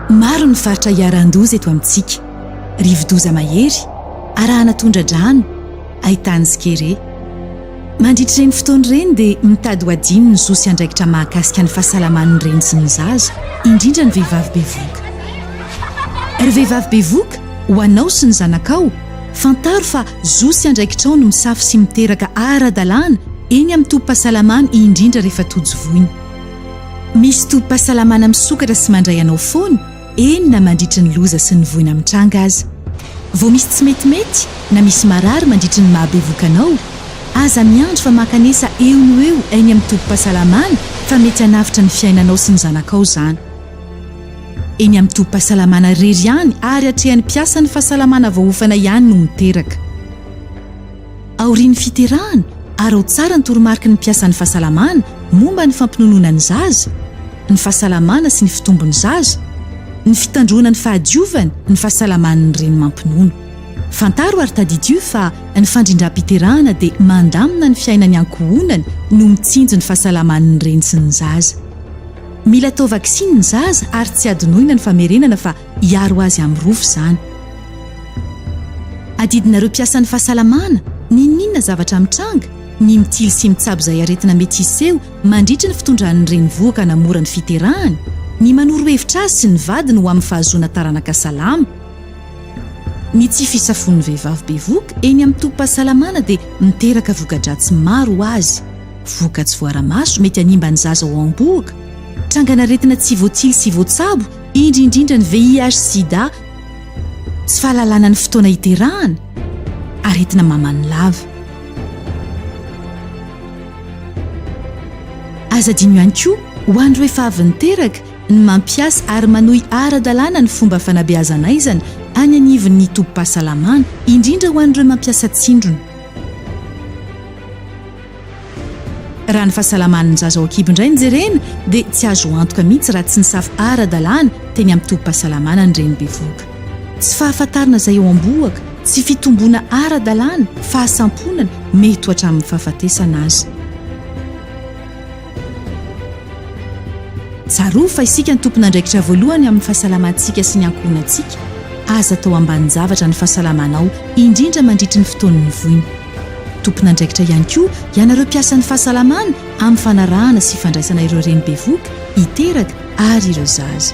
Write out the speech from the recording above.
Maro ny faritra iharan-doza eto amintsika. Rivo-doza mahery, arahana tondra-drano, haitany sy kere. Mandritra ireny fotoana ireny dia mitady ho hadino ny zo sy andraikitra mahakasika ny fahasalaman'ny reny sy ny zaza, indrindra ny vehivavy bevohoka. Ry vehivavy bevohoka, ho anao sy ny zanakao, fantaro fa Zo sy andraikitrao ny misafo sy miteraka ara-dalàna eny amin'ny tobim-pahasalamana indrindra rehefa tojo voina. Misy tobim-pahasalamana misokatra sy mandray anao foana eny na mandritry ny loza sy ny voina mitranga aza. Vao misy tsy metimety na misy marary mandritry ny maha bevoka anao, aza miandry fa mankanesa eo no eo eny amin'ny tobim-pahasalamana fa mety hanavotra ny fiainanao sy ny zanakao izany. Eny amin'ny tobim-pahasalamana irery ihany ary atrehan'ny mpiasan'ny fahasalamana voaofana ihany no miteraka. Aorian'ny fiterahana, araho tsara ny toromariky ny mpiasan'ny fahasalamana momba ny fampinonoana ny zaza, ny fahasalamana sy ny fitombon'ny zaza, ny fitandroana ny fahadiovany, ny fahasalaman'ny reny mampinono. Fantaro ary tadidio fa ny fandrindram-piterahana dia mandamina ny fiainany ankohonany no mitsinjo ny fahasalaman'ny reny sy ny zaza. Mila atao vaksiny ny zaza ary tsy adinoina ny famerenana fa hiaro azy amin'ny rofy izany. Adidinareo mpiasan'ny fahasalamana, n'inon'inona zavatra mitranga, ny mitily sy mitsabo izay aretina mety hiseho mandritry ny fitondran'ny renivohoka hanamora ny fiterahany, ny manoro hevitra azy sy ny vadiny ho amin'ny fahazoana taranaka salama. Ny tsy fisafoan'ny vehivavy bevoka eny amin'ny tobim-pahasalamana dia miteraka voka-dratsy maro ho azy. Vokatry voara-maso mety hanimba ny zaza ao am-bohoka, trangan'aretina tsy voatsilo sy voatsabo, indrindrindra ny VIH-Sida, tsy fahalalana ny fotoana hiterahana, aretina maman'ny lava. Aza adino ihany koa ho an'ireo efa avy niteraka ny mampiasa ary manohy ara-dalàna ny fomba fanabeazan'aizana any anivon'ny tobim-pahasalamana, indrindra ho an'ireo mampiasa tsindrona. Raha ny fahasalaman'ny zaza ao an-kibo indray no jerena dia tsy azo antoka mihitsy raha tsy nisafo ara-dalàna teny amin'ny tobim-pahasalamana ny reny bevohoka. Tsy fahafantarana izay eo am-bohoka, tsy fitomboana ara-dalàna, fahasamponana, mety ho hatramin'ny fahafatesana aza. Tsarovy fa isika no tompon'andraikitra voalohany amin'ny fahasalamantsika sy ny ankohonantsika. Aza atao ambanin-javatra ny fahasalamanao, indrindra mandritry ny fotoan'ny voina. Tompon'andraikitra ihany koa ianareo mpiasan'ny fahasalamana amin'ny fanarahana sy fandraisana ireo reny bevoka, hiteraka ary ireo zaza.